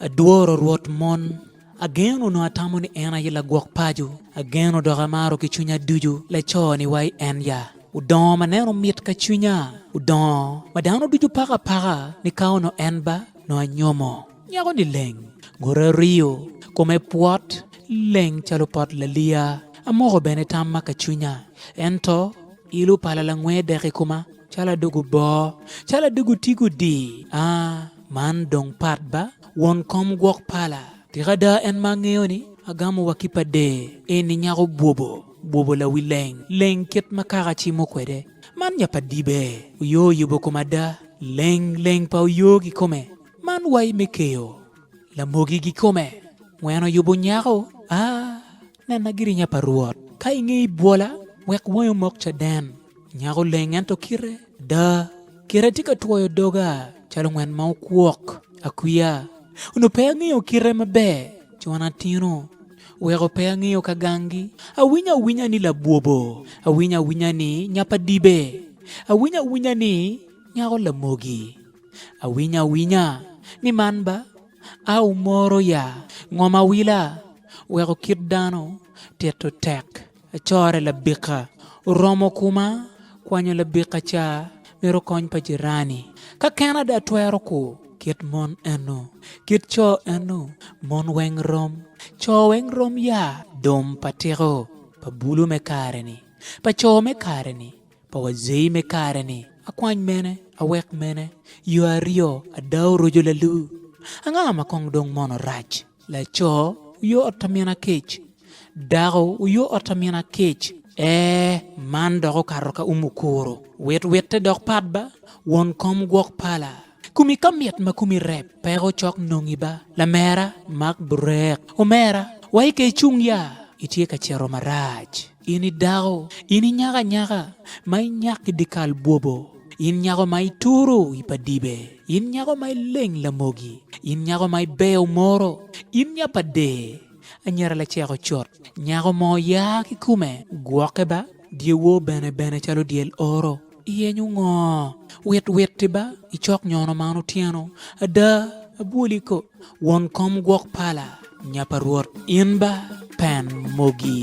Adworo Rwot mon. Ageno onongo atamo ni en aye lagwok paco, ageno dok amaro ki cwinya ducu laco-ni wa i en ya. Odongo ma neno mit ka cwinya, odongo ma dano ducu pako apaka ni ka onongo en ba nongo anyomo. Nyako-ni leng, ngute oriyo, kome pwot, leng calo pot laliya. Amoko bene tamma ka cwinya, ento il opala langwe dek i koma calo adog oboo, calo adog otigo di a. Man dong pat ba, won kom gwok pala! Tika ada en ma angeyo ni agamo wa ki pa dee eni nyako bwobo, bwobo lawi leng leng kit ma kaka cimo kwede? Man nya pa dibe oyo oyubo kom ada, leng leng pa oyo kikome? Man wai me keyo lamogi gikome, weno yubo nyako? Aa! Nena girinya pa Rwot. Ka i nge ibwola, wek wangi omok caden. Nyako oleng ento kite ada, kite tye ka twoyo doga calo ngwen ma okwok. Akwiya! Onongo pe angeyo kite maber con atino, weko pe angeyo ka gangi. Awinyo awinya ni labwobo, awinyo awinya ni nyapadibe, awinyo awinya ni nyako lamogi. Awinyo awinya ni man ba. A Wumoro ya, ngom awila, weko kit dano tito tek, acore labika, oromo kuma, kwanyo labika ca, mito kony pa jirani. Ka ken ada atwero ku, kit mon enu, kit co enu, mon weng rom, co weng rom ya. Dom pa tiko pa bulu me kare-ni, pa co me kare-ni. Poko zei me kare ni akwany mene awek mene yo aryo ada oroco lalu anga ma kong dong mono rac laco oyo ot amina kec dako oyo ot amina kec ee man dok okato ka umu kuro wit witte dok pat ba won kom gwok pala kumi ka mit ma kumi rep peko cok nongi ba lamera mak burek omera wa ika icung ya itye ka cito marac. In i dako, in i nyako anyaka, ma inyak i dyekal bwobo, in nyako ma ituro i pa dibe, in nyako ma ileng lamogi, in nyako ma ibeyo moro, in nya pa dee, anyira lacek ocot, nyako moo ya ki kome, gwoke ba, dyewor bene bene calo dyel oro. Iyenyo ngo? Wit witti ba i cok nyono man otyeno. Ada, abwoli ko, won kom gwok pala, nya pa Rwot, in ba pen mogi.